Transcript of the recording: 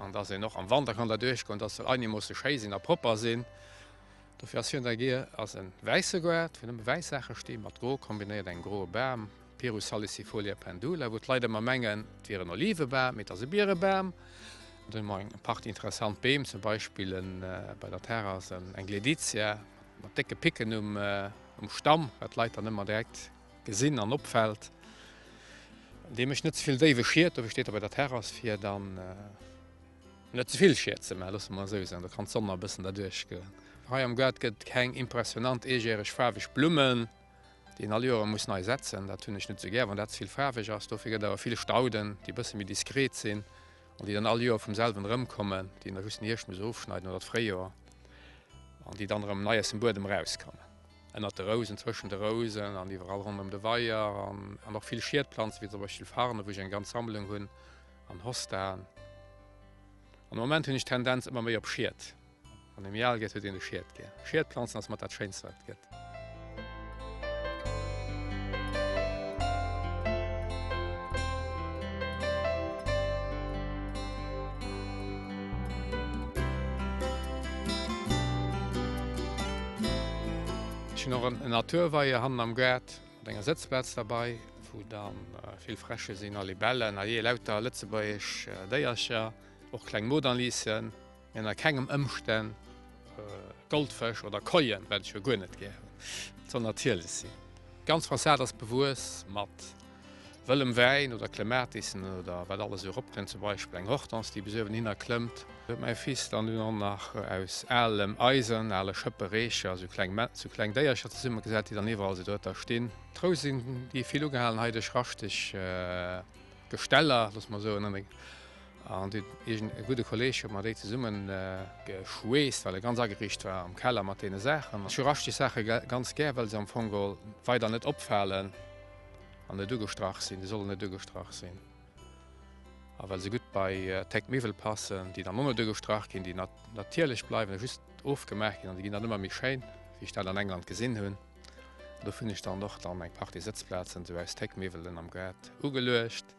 An dass een och am Wanter kann der duerch goen, dass se einigermoosse schéi sinn a propper sinn. Dofir ass hien der Gear, ass e wäisse Gaart, wou nëmme wäiss Saache stinn, mat gro kombinéiert, engem groe Bam, Pyrus salicifolia pendula, wou d'Leit ëmmer mengen, et wier en Olivebam, mee et ass e Bierebam. Do hu mer eng Partie interessant Beem, zum Beispill bei der Terrass eng Gleditia mat décke Picken um Stamm, wat d'Leit dann ëmmer direkt Gesinn an opfällt, dee mécht net zevill déiwe Schied, dofir steet e bei der Terrass, fir dann net zevill Schied ze maachen, loosse mer esou soen. Do kann d'Sonn nach e bëssen derduerch goen. Hei am Gaart gëtt et keng impressionnant eegäereg faarweg Blummen, déi een all Joere muss nei setzen. Dat hunn ech net esou gär, wann dat zevill faarweg ass. Dofir gëtt et awer vill Stauden, déi e bësse méi diskret sinn an déi dann all Joer vum selwen erëmkommen, déi een da just den Hierscht muss ofschneiden oder d'Fréijoer an déi dann erëm nei aus dem Buedem erauskommen. Ënnert de Rousen, zwëschen de Rousen an iwwerall ronderëm de Weier. An och vill Schiedplanzen, wéi zum Beispill Farne wou ech eng ganz Sammlung hunn an Hostaen. An de Moment hunn ech d'Tendenz ëmmer méi op Schied. Wann ee méi al gëtt, huet een e Schied gär. Schiedplanzen ass mat dat Schéinst wat et gëtt. Ech hunn och en Naturweier hannen am Gaart mat enger Sëtzplaz derbei, wou da vill Fräsche sinn a Libellen, a jee, lauter lëtzebuergesch Déiercher, och kleng Modanlisen, mee ënner kengem Ëmstänn Goldfësch oder Koien, well ech jo guer net gär hunn, et soll natierlech sinn. D'ganz Fassad ass bewuess mat. Wëllem Wäin oder Klematisen oder wat alles esou eropkënnt, zum Beispill eng Hortense, déi bis uewen hinner klëmmt, huet mäi Fils dann dunn och nach aus alem Eisen, ale Schëppe, Reecher, esou kleng esou kleng Déiercher zesummegesat, déi dann iwwerall esou dohinter stinn. D'Rou sinn déi vill ugehalen hei duerch raschteg Gesteller, loosse mer soen, an deen eegene gudde Kolleeg huet mer déi zesummegeschweesst, well e ganz ageriicht war am Keller mat deene Saachen. Ech hu raschteg Saache ganz gär, well se am Fong weider net opfalen. an net ugestrach sinn, déi sollen net ugestrach sinn. A well se gutt bei Tech Miwwel passen, déi dann och net ugestrach ginn, déi natierlech bleiwen a just ofgemaach ginn an déi ginn dann ëmmer méi schéin, wéi ech dat an England gesinn hunn. Dofir hunn ech dann och dann eng Partie Sëtzplazen esou aus Tech Miwwelen am Gaart ugeluecht.